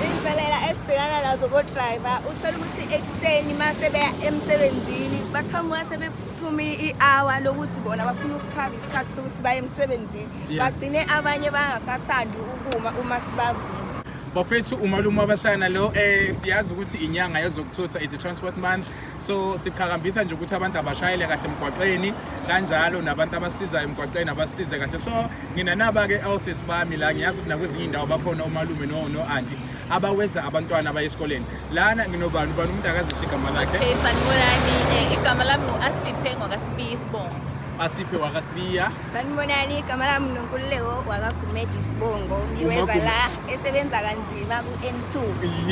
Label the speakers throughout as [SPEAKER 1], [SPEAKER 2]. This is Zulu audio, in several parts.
[SPEAKER 1] Inselela esibhekana nazo kodriver uthola ukuthi ekuseni uma sebeya emsebenzini baqhamuka sebephuthuma i-hour lokuthi bona bafuna ukukhava isikhathi sokuthi baye emsebenzini bagcine abanye bangasathandi ukuma uma sibavile bafethu
[SPEAKER 2] umalume wabashana lo um siyazi ukuthi inyanga yezokuthutha it's a transport month so siqhakambisa nje ukuthi abantu abashayele kahle emgwaqeni kanjalo nabantu abasizayo emgwaqeni abasize kahle so ngina naba-ke elses bami la ngiyazi ukuthi nakwezinye indawo bakhona omalume no-anti abaweza abantwana abaye esikoleni lana nginobani ubani umuntu akazisho igama lakhe okay sanibonani
[SPEAKER 3] eh, igama lami ngu-asiphe ngwakasibiya isibongo asiphe
[SPEAKER 2] wakasibiya sanibonani igama
[SPEAKER 1] lami nonkululeko wakagumedi isibongo ngiweza la esebenza kanzima ku-N2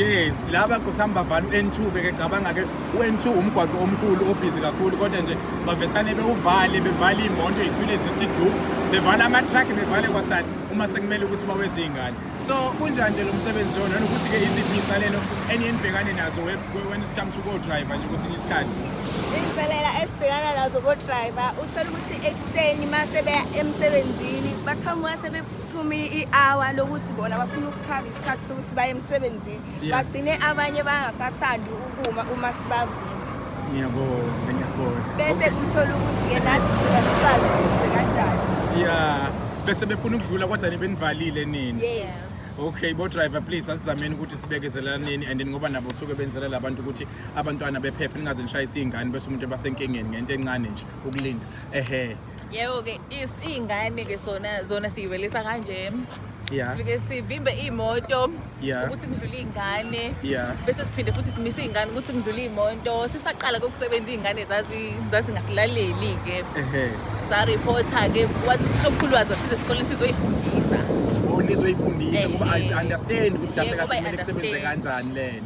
[SPEAKER 1] yes
[SPEAKER 2] laba kusihamba vala u-N2 beke cabanga ke u-N2 umgwaqo omkhulu obhizi kakhulu kodwa nje bavesane bewuvale bevale iy'moto ey'thwile zithi du bevale ama-truck bevale kwasani uma sekumele ukuthi baweze iy'ngane so kunjani nje lo msebenzi lona nokuthi-ke iziphi iy'nsalelo eniye nibhekane nazo we- we- when it's come to co-driver nje kwesinye isikhathi izinselela
[SPEAKER 1] esibhekana nazo kodriver uthole ukuthi ekuseni uma sebeya emsebenzini baqhamuka sebe thuma i-hour lokuthi bona bafuna ukukhava isikhathi sokuthi baye emsebenzini bagcine abanye bangasathandi ukuma uma sibavula ngiyabona
[SPEAKER 2] ngiyabona bese
[SPEAKER 1] kuthola ukuthi ke nathi sibasazi kanjani yeah
[SPEAKER 2] bese befuna ukudlula kodwa nibenivalile nini yes okay
[SPEAKER 1] bodriver
[SPEAKER 2] please asizameni ukuthi sibekezelaneni and ngoba nabo suke benzela labantu ukuthi abantwana bephephe ningaze nishayise iy'ngane bese umuntu ebasenkingeni ngento encane nje ukulinda ehe yebo
[SPEAKER 3] ke iy'ngane ke sona zona siyivelisa kanje yeah. sifike
[SPEAKER 2] sivimbe
[SPEAKER 3] iy'moto yeah. ukuthi kudlule
[SPEAKER 2] iy'ngane
[SPEAKER 3] yeah. bese siphinde
[SPEAKER 2] futhi simise
[SPEAKER 3] iy'ngane ukuthi kudlule iy'moto sisaqala kokusebenza iy'ngane zazingasilaleli-ke saripotha-ke wathi uthisha omkhulu wazo size esikoleni sizoyifundisa nizoyifundisa
[SPEAKER 2] ngoba i understand ukuthi kahle kahle kumele kusebenze kanjani lena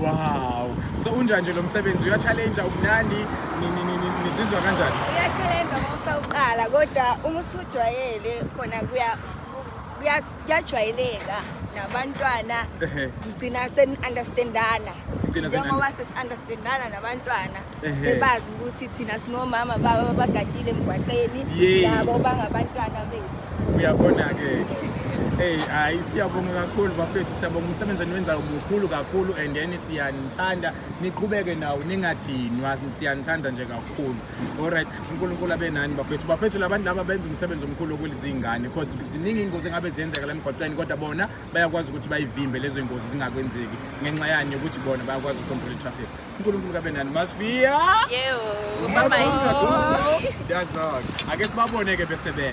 [SPEAKER 3] Wow.
[SPEAKER 2] So unjani nje lo msebenzi uya challenge umnandi nizizwa kanjani? Uya challenge ngofa
[SPEAKER 1] uqala kodwa uma usujwayele khona kuya kuyajwayeleka nabantwana ngigcina seni-understandana njengoba sesi-understandana nabantwana sebazi ukuthi thina sinomama baba bagadile emgwaqeni yabo bangabantwana
[SPEAKER 2] bethu uyabona-ke Hey hayi siyabonga kakhulu bafethu siyabonga umsebenzi eniwenzayo mukhulu kakhulu and then siyanithanda niqhubeke nawo ningadinwa siyanithanda nje kakhulu alright uNkulunkulu abe nani bafethu bafethu labantu laba benza umsebenzi omkhulu okulizingane because ziningi ingozi engabe ziyenzeka la mgwaqeni kodwa bona bayakwazi ukuthi bayivimbe lezo ingozi zingakwenzeki ngenxa yani ukuthi bona bayakwazi ukucontrol traffic uNkulunkulu kabe nani masibiya yebo
[SPEAKER 3] mama yini dazak
[SPEAKER 2] ake sibabone ke bese be